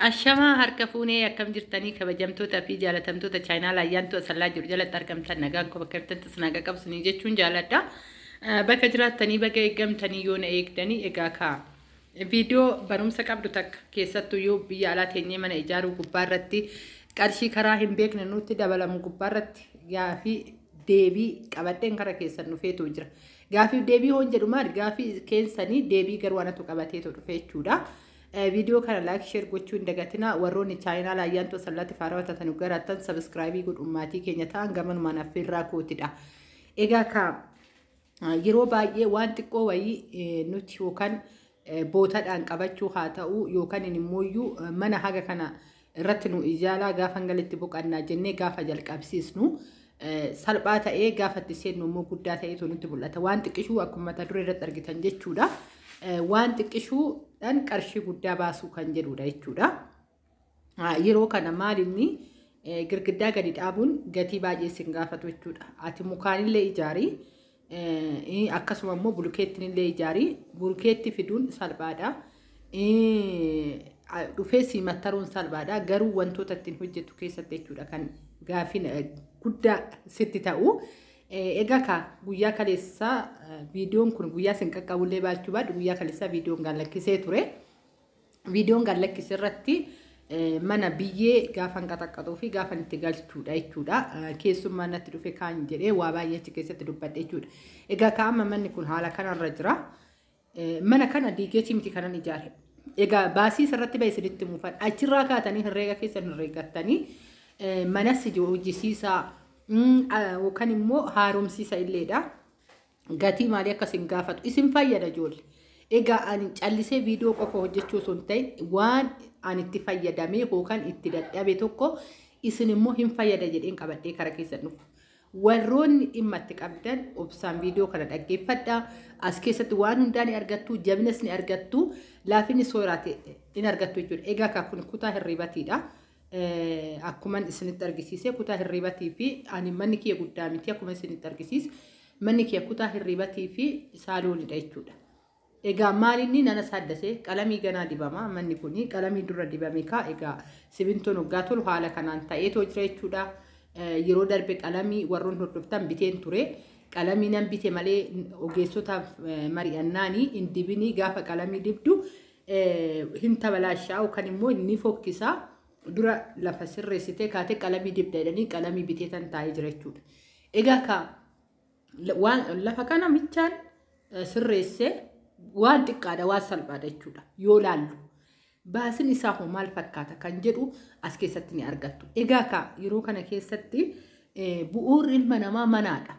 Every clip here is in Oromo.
Ashamaa harka fuunee akkam jirtanii kabajamtoota fi jaalatamtoota chaayinaala ayyaantu asallaa jiru jalatti argamtan nagaan koo bakka jirtanitti isin haqa qabsanii jechuun jaaladha. Bakka jiraattanii baga eegamtanii yoo na eegdanii egaa kaa. Viidiyoo barumsa qabdu takka keessattuu yoo biyya alaa teenyee mana ijaaruu gubbaa irratti qarshii karaa hin beekne nutti dabalamu gubbaa irratti gaafii deebii qabadheen kara keessan dhufeetu jira. Gaafiif deebii hoon jedhu maali gaafii keensanii deebii garuu anatu qabateetoo dhufe jechuudha. Viidiyoo kana laayik sheer gochuu hin dagatinaa warroonni chaayinaala ayyaantoo sallaatti faarawa taatanu garaattan sabiskiraayibii godhuun maatii keenya ta'an gamanumaan affeerraa kootidha. Egaa ka yeroo baay'ee waan xiqqoo wayii nuti yookaan bootadhaan qabachuu haa ta'uu yookanin immooyyuu mana haga kana irratti nu ijaalaa gaafa hanga itti boqannaa jennee gaafa jalqabsiisnu salphaa ta'ee gaafa itti seennu immoo guddaa ta'ee nutti mul'ata. Waan xiqqishuu akkuma mata duree irratti argitan jechuudha. Waan xiqqishuudhaan qarshii guddaa baasuu kan jedhudha jechuudha. Yeroo kana maal inni girgiddaa gadi dhaabuun gatii baay'ee isin gaafatu jechuudha. Ati mukaanillee ijaari akkasuma immoo bulukeettinillee ijaari bulukeetti fiduun salphaadha. Dhufee sii mattaruun salphaadha garuu wantoota ittiin hojjetu keessatti jechuudha kan gaafiin guddaa sitti ta'u. Egaa kaa guyyaa kaleessaa viidiyoon kun guyyaa isin qaqqabullee baachuu baadhu guyyaa kaleessaa viidiyoon gaallakkisee ture. Viidiyoon gad lakkise irratti mana biyyee gaafan qaxaqqaxuu fi gaafan itti galchuudha jechuudha. Keessummaa natti dhufe kaan jedhee waa baay'ee achi keessatti dubbadhe jechuudha. Egaa ka amma manni kun haala kanarra jira. Mana kana diigeetii miti kanan ijaare. Egaa baasii irratti ba'e isinitti muufan. Achirraa kaatanii herreega keessan herreegattanii manas hojjisiisaa yookaan immoo haaromsiisa illeedha. gatii maalii akka isin gaafatu isin fayyada ijoollee. Egaa ani callisee viidiyoo qofa hojjechuu osoo hin ta'in waan ani itti fayyadamee yookaan itti dadhabe tokko isin immoo hin fayyada jedheen qabadhee kara keessan dhufu. Warroonni dhimma itti qabdan obsaan viidiyoo kana dhaggeeffadha. As keessatti waan hundaa ni argattu, jabinas ni argattu, laafinni sooraate ni argattu jechuudha. Egaa kun kutaa hirribatiidha. Akkuman isinitti argisiise kutaa hirriibatii fi ani manni kiyya guddaa miti akkuma isinitti argisiise manni kiyya kutaa hirriibatii fi saaloonidha jechuudha. Egaa maalinni nana saaddase qalamii ganaa dibama manni kun qalamii dura dibame kaa egaa simintoon hoggaa tolu haala kanaan ta'eetoo jira jechuudha. Yeroo darbe qalamii warroon hordoftan biteen ture. Qalamii nan bite malee ogeessota mari'annaanii hin dibinii gaafa qalamii dibdu hin tabalaashaa'u kan immoo ni fokkisa dura lafa sirreessitee kaatee qalamii dibda jedhanii qalamii bitee tan taa'ee jira jechuudha. Egaa ka waan lafa kana michaan eh, sirreessee waan xiqqaadha waan salphaadha jechuudha yoo laallu. Baasin isaa hoo maal fakkaata kan jedhu as keessatti ni argattu. Egaa ka yeroo kana keessatti eh, bu'uurri ilma namaa manaadha.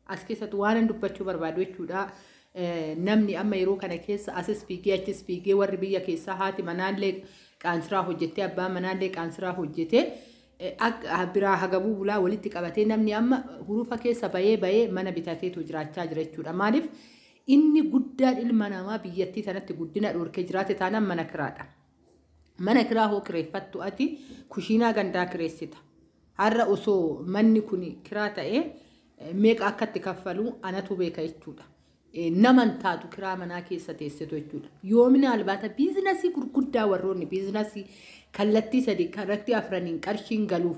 As keessatti waanan dubbachuu barbaadu jechuudha. Namni amma yeroo kana keessa asis fiigee achis fiigee warri biyya keessaa haati manaallee qaansiraa hojjettee abbaan manaallee qaansiraa hojjetee biraa hagabuu bulaa walitti qabatee namni amma hurufa keessa bayee bayee mana bitateetu jiraachaa jira jechuudha. Maaliif inni guddaan ilma namaa biyyattii tanatti guddina dhorkee jiraate taanaan mana kiraadha. Mana kiraa hoo kireeffattu ati kushiinaa gandaa kireessita. Har'a osoo manni kuni kiraa ta'ee meeqa akka itti kaffalu anatu beeka jechuudha. Nama hin taatu kiraa manaa keessa teessetu jechuudha. Yoomina albaata biizinasii gurguddaa warroonni biizinasii kallattii sadii kallattii afraniin qarshiin galuuf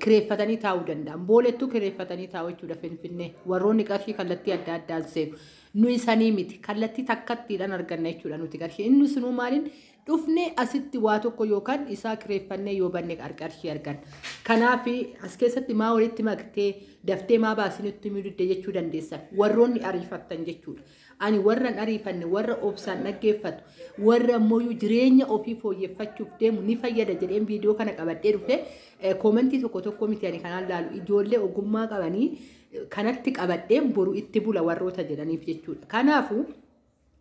kireeffatanii taa'uu danda'an. Boolettuu kireeffatanii taa'u jechuudha Finfinnee. Warroonni qarshii kallattii adda addaan seenu. Nu isanii miti. Kallattii takkattiidhaan arganna jechuudha nuti qarshii. Inni sunuu maaliin dhufnee asitti waa tokko yookaan isaa kireeffannee yoo banne qarqarshii argan. Kanaaf as keessatti maa walitti maktee daftee maa baasii nutti himuu didde jechuu dandeessan warroonni ariifattan jechuudha. Ani warran ariifanne warra obsaan dhaggeeffatu warra ammoo jireenya ofii fooyyeffachuuf deemu ni fayyada jedheen viidiyoo kana qabadhee dhufe koomentii tokko tokko miti ani kanaan laalu ijoollee ogummaa qabanii kanatti qabadheen boru itti bula warroota jedhaniif jechuudha. Kanaafuu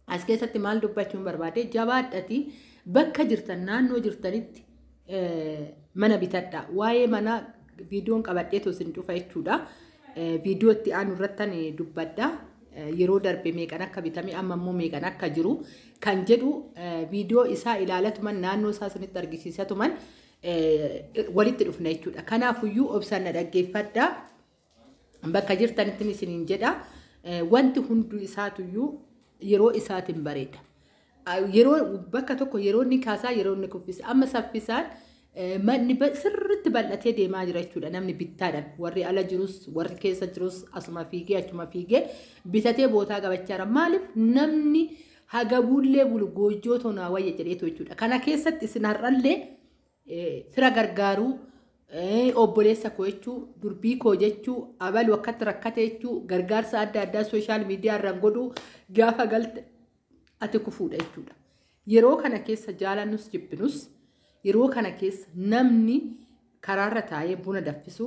As keessatti maal dubbachuun barbaade jabaadhati bakka jirtan naannoo jirtanitti mana bitadha. Waa'ee manaa viidiyoon qabadheetu isin dhufa jechuudha. Viidiyoo itti aanu irrattan dubbadha. Yeroo darbe meeqan akka bitame amma immoo meeqan akka jiru kan jedhu viidiyoo isaa ilaalatuman naannoo isaa isinitti argisiisatuman walitti dhufna jechuudha. Kanaafuyyuu obsaan na dhaggeeffadha. Bakka jirtanittin isiniin jedha wanti hunduu isaatuyyuu yeroo isaatiin bareeda. Yeroo bakka tokko yeroo inni kaasaa yeroo inni kuffisa. Amma saffisaan manni sirriitti bal'atee deemaa jira jechuudha namni bittaadhaan warri ala jirus warri keessa jirus asuma fiigee achuma fiigee bitatee bootaa gabachaara maaliif namni hagabuullee bulu goojjoo tonaa wayya jedheetu jechuudha kana keessatti isin har'allee fira gargaaruu obboleessa koo jechuu durbii koo jechuu abalu akkatti rakkate jechuu gargaarsa adda addaa sooshaal miidiyaa irraan godhuu gaafa galte ati kufuudha jechuudha. Yeroo kana keessa jaalannus jibbinus yeroo kana keessa namni karaarra taa'ee buna daffisu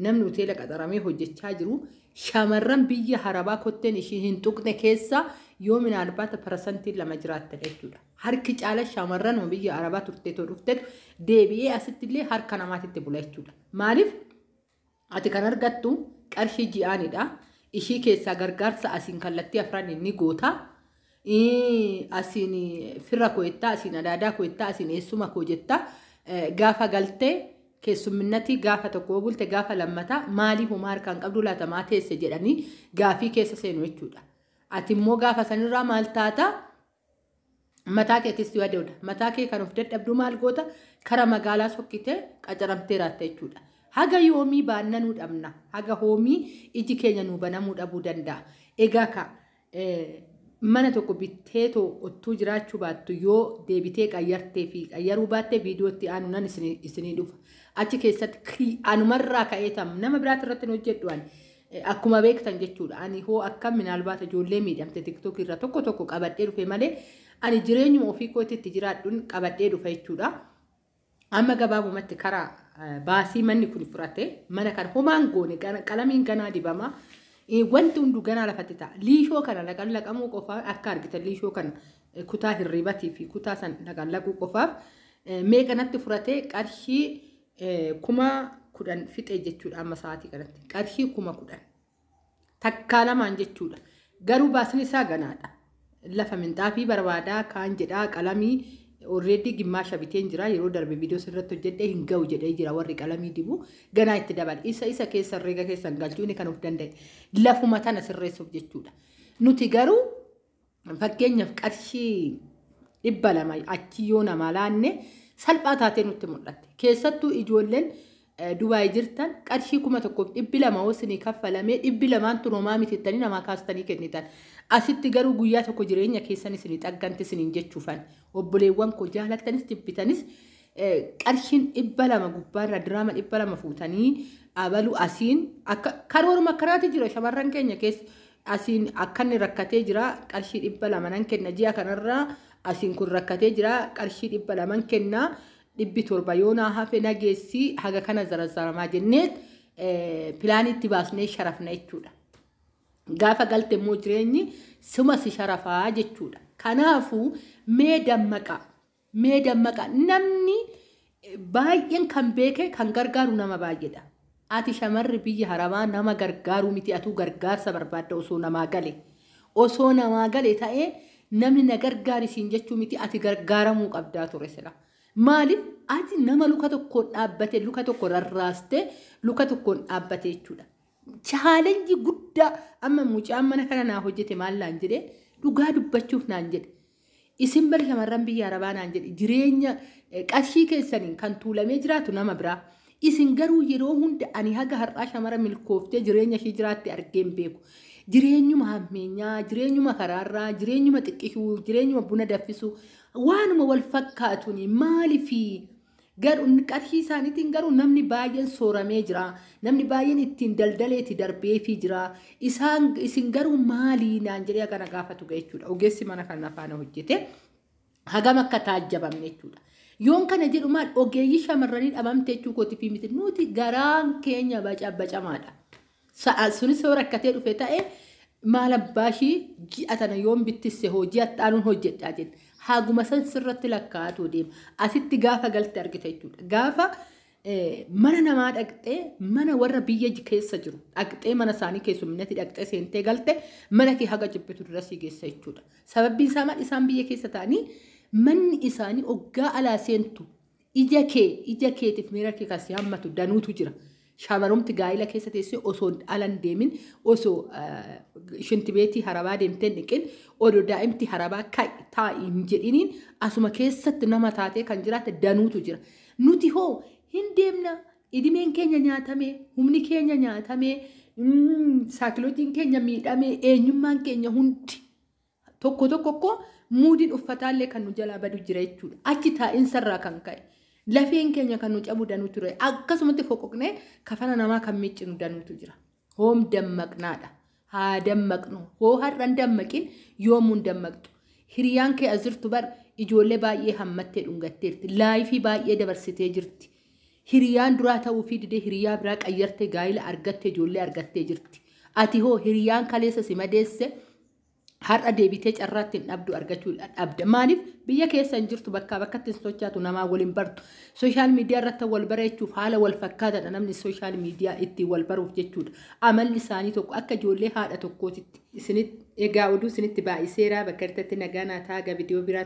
namni hoteela qaxaramee hojjechaa jiru shamarran biyya harabaa kotteen ishii hin tuqne keessa yoo minaalbaata parasantiin lama jiraatte jechuudha. Harki caala shamarran ma biyya arabaa turtee too dhuftetu deebi'ee asitti illee harka namaatitti bula jechuudha. Maaliif ati kan argattu qarshii ji'aanidha. Ishii keessaa gargaarsa asiin kallattii afran ni goota. Ii, Asiin firra koo jettaa, asiin adaadaa koo jettaa, asiin eessuma koo jettaa. Eh, Gaafa galtee keessumminnatii gaafa tokko yoo bulte gaafa lammataa maalii homaa harkaan qabduu laata maa teesse jedhanii gaafii keessa seenu jechuudha. Ati immoo gaafa sanirraa maal taataa? Mataa keetis yoo adeemta. Mataa kee kan of dadhabduu maal goota? Kara magaalaa sokkitee qacaramtee raatta jechuudha. Haga yoomii baannanuu dhabna. Haga hoomii iji keenya nuu banamuu dhabuu danda'a. Egaa ka mana tokko bittee too ottuu jiraachuu baattu yoo deebitee qayyartee fi qayyaruu baattee viidiyootti aanu nan isinii dhufa. Achi keessatti anumarraa ka'ee tam nama biraatti irratti hin hojjedhu ani. Akkuma beektan jechuudha ani hoo akkam minaalbaata ijoollee miidhamte tiktok irra tokko tokko qabadhee dhufe malee ani jireenyuma ofii kootti itti jiraadhuun qabadhee dhufa jechuudha. Amma gabaabumatti karaa eh, baasii manni kun fudhate mana kana homaan goone gana- qalamiin ganaa dibama Eh, wanti hunduu ganaa lafatti ta'a liishoo kana laqallaqamuu qofaa akka argitan liishoo kana eh, kutaa hirribatii fi kutaa san laqallaquu qofaaf eh, meeqa natti fudhate qarshii Kuma kudhan fixee jechuudha amma sa'aatii kanatti. Qarshii kuma kudhan. Takkaa lamaan jechuudha. Garuu baasni isaa ganaadha. Lafa minxaafii barbaadaa kaan jedhaa qalamii already gimmaasha biteen jira yeroo darbe viidiyoo sirratti hojjedhe hin ga'u jedhee jira warri qalamii dibu ganaa itti dabala isa isa keessa herreega keessan galchuu inni kan of danda'e lafuma tana sirreessuuf jechuudha nuti garuu Fakkeenyaaf qarshii dhibba lama achi yoo namaa laanne salphaa taatee nutti mul'atte. Keessattuu ijoolleen eh, Dubaay jirtan qarshii kuma tokkoof dhibbi lama yoo isinii kaffalamee dhibbi lamaan tun homaa miti jettanii namaa kaastanii kennitan. Asitti garuu guyyaa tokko jireenya keessan isinii xagganti isiniin jechuufan. Obboleewwan koo jaalattanis jibbitanis eh, qarshiin dhibba lama gubbaarra diraama dhibba lama fuutanii abalu asiin akka karooruma akkanaati jira shamarran keenya keessa. Asiin akkanni rakkatee jira qarshii dhibba lama nan kenna ji'a kanarra asiin kun rakkatee jira qarshii dhibba laman kenna dhibbi torba yoo naa hafe na geessi haga kana zarazzaramaa jennee pilaanii itti baasnee sharafna jechuudha. Gaafa galte immoo jireenyi suma si sharafaa jechuudha. Kanaafuu mee dammaqaa Mee dammaqaa. Namni baay'een kan beeke kan gargaaru nama baay'eedha. Ati shamarri biyya harabaa nama gargaaruu miti atuu gargaarsa barbaadda osoo namaa gale. Osoo namaa gale ta'ee namni na gargaari siin jechuu miti ati gargaaramuu qabdaa ture sila. Maaliif ati nama luka tokkoon dhaabbate luka tokko rarraaste luka tokkoon dhaabbate jechuudha. Chaalenjii guddaa amma mucaan mana kana naa hojjete maal naan jedhe dhugaa dubbachuuf naan jedhe. Isin bar shamarran biyya arabaa naan jedhi jireenya eh, qarshii keessaniin kan tuulamee jiraatu nama biraa. Isin garuu yeroo hunda ani haga har'aa shamara milkooftee jireenya ishii jiraatte argee hin beeku. Jireenyuma hammeenyaa, jireenyuma karaarraa, jireenyuma xiqqishuu, jireenyuma buna daffisuu waanuma wal fakkaatuni maalifi Garuu qarshii isaaniitiin garuu namni baay'een sooramee jira. Namni baay'een ittiin daldaleeti darbeefii jira. Isaan isin garuu maalii naan jedhee akka na gaafatu ga'e jechuudha. Ogeessi mana kanaa faana hojjete hagam akka taajjabamne jechuudha. Yoon kana jedhu maal ogeeyyii shamarranii dhabamte jechuu kootiif miti nuti garaan keenya bacabacamaadha. Sa'a sunis yoo rakkatee dhufe ta'e maal abbaa ishii ji'a tana yoon bittisse hoo ji'a xaanuun hojjedhaa jenna. Haguma san sirratti lakkaa'atuu deema. Asitti gaafa galte argita jechuudha. Gaafa mana namaa dhaqxee mana warra biyya keessa jiru dhaqxee mana isaanii keessumminatti dhaqxee seentee galte mana kee haga jibbitu dura sii geessa jechuudha. Sababbiin isaa maal isaan biyya keessa ta'anii manni isaanii oggaa alaa seentu Ija kee ija keetiif miira kee kan si hammatu danuutu jira. Shaamarumti gaa'ila keessa teessee osoo ala hin deemin osoo shintibeetii harabaa deemtee hin dhiqin odoo daa'imti harabaa ka'i taa'i hin jedhiniin asuma keessatti nama taatee kan jiraate danuutu jira. Nuti hoo hin deemna idimeen keenya nyaatamee humni keenya nyaatamee mm, saakilojiin keenya miidhamee eenyummaan keenya hundi Tokko tokko kko muudiin uffataallee kan nu jalaa badu jira jechuudha. Achi taa'insarraa kan ka'e lafeen keenya kan nu cabu danuutu jira. Akkasumatti foqoqnee kafana namaa kan miiccinu danuutu jira. Hoom dammaqnaadha. Haa dammaqnu. Hoo har'an dammaqin yoomuun dammaqxu. Hiriyaan kee as jirtu bar ijoollee baay'ee hammattee dhungatteerti. Laayifii baay'ee dabarsitee jirti. Hiriyaan duraa ta'uufii didee hiriyaa biraa qayyartee gaa'ila argattee ijoollee argattee jirti. Ati hoo hiriyaan kaleessa si madeesse har'a deebitee carraa ittiin dhabdu argachuu dhabda. Maaliif biyya keessa hin jirtu bakkaa bakkatti hin sochaatu namaa waliin bartu. Sooshaal miidiyaa irratti wal bareechuuf haala wal fakkaataadha namni sooshaal miidiyaa ittiin wal baruuf jechuudha. Amalli isaanii tokko akka ijoollee haadha tokkootitti. Isinitti egaa oduu isinitti baay'iseera bakka irratti nagaa naa taaga viidiyoo biraa